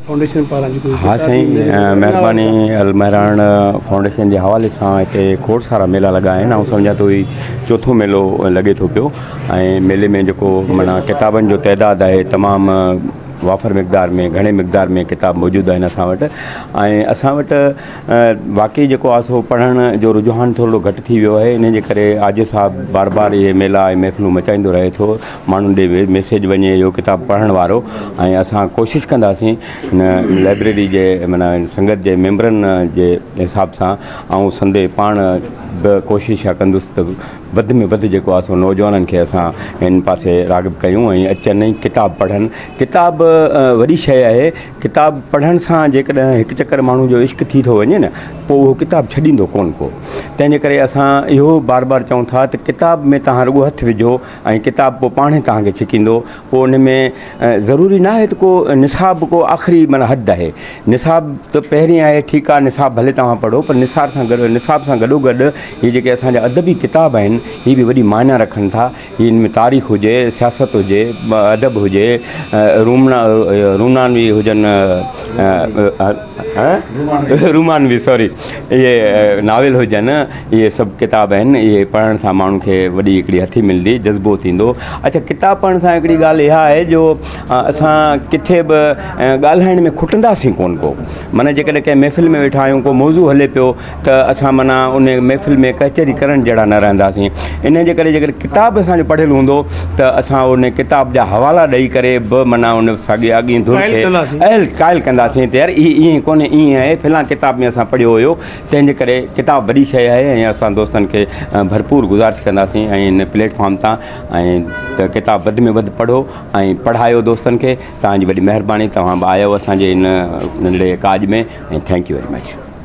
Foundation پاران جيڪو هي ها سائين مهرباني المهراڻ فائونڊيشن جي حوالي سان هتي کوڙ سارا ميلا لڳا آهن آئون سمجهان ٿو هي چوٿون ميلو لڳي ٿو پيو ۽ ميلي ۾ جيڪو معنيٰ ڪتابن جو تعداد آهي تمام وافر مقدار ۾ گهڻي مقدار ۾ ڪتاب موجود آهن اسان وٽ ۽ اسان وٽ واقعي جيڪو آهي سو پڙهڻ جو رجحان ٿورڙو گهٽ ٿي ويو آهي ان جي ڪري آجو صاحب بار بار اهي ميلا ۽ محفلون مچائيندو رهي ٿو ماڻهن ڏي به ميسيج وڃي اهو ڪتاب پڙهڻ وارو ۽ اسان ڪوشش ڪنداسين هن لائبريري جي معنيٰ سنگت جي ميمبرن جي حساب سان آئون سندي پاڻ به ڪوشش اها ڪندس ته وڌ ۾ وڌ جيڪو آهي سو نوجوانن کي اسان هن پاسي راغب ڪيون ۽ اچن ۽ ڪتاب پڙهن ڪتاب وڏي شيء آهي ڪتاب پڙهڻ سان جيڪڏهن هڪ چڪر ماڻهو جو عشق ٿي ٿو وڃي نه پوء اهو ڪتاب ڇڏيندو ڪونه ڪو تنهنجي ڪري اسان اهو بار بار چئون ٿا ته ڪتاب ۾ توهان رڳو هٿ وجهو ۽ ڪتاب پوء پاڻهي توهان کي ڇڪيندو پوء ان ۾ ضروري نه آهي ته ڪو نصاب ڪو آخري معنيٰ حد آهي نصاب ته پهرين آهي ٺيڪ آهي نصاب ڀلي توهان پڙهو پر نصاب سان گڏ نصاب سان گڏو گڏ هي جيڪي اسان جا ادبي ڪتاب آهن هي به وڏي معنيٰ رکن ٿا هي ان ۾ تاريخ هجي سياست هجي ادب هجي رومنا رونانوي هجن رومانوي سوري اهي ناول هجن اهي سڀ ڪتاب آهن اهي پڙهڻ سان ماڻهو کي وڏي هڪڙي هٿي ملندي جذبو ٿيندو اڇا ڪتاب پڙهڻ سان هڪڙي ڳالهه اها آهي جو اسان ڪٿي به ڳالهائڻ ۾ کٽنداسين ڪون ڪو معنيٰ جيڪڏهن ڪنهن محفل ۾ ويٺا آهيون ڪو موضوع هلي پيو ته اسان معنيٰ ان محفل ۾ ڪهچري ڪرڻ جهڙا نه رهنداسين. انهيء جي ڪري جيڪڏهن ڪتاب اسان جو پڙهيل هوندو ته اسان ان ڪتاب جا حوالا ڏئي ڪري به معنيٰ ان ساڳئي اڳئين ڌر کي اهل قائل ڪنداسين ته يار هي ائين ڪونهي ائين آهي فلان ڪتاب ۾ اسان پڙهيو هيو تنهن جي ڪري ڪتاب وڏي شيء آهي ۽ اسان دوستن کي ڀرپور گذارش ڪنداسين ۽ ان پليٽ فارم تان ۽ ته ڪتاب وڌ ۾ وڌ پڙهو ۽ پڙهايو دوستن کي توهان جي وڏي مهرباني توهان به آيو اسان جي ان ننڍڙي ڪاڄ ۾ ۽ ٿينڪ يو ويري مچ.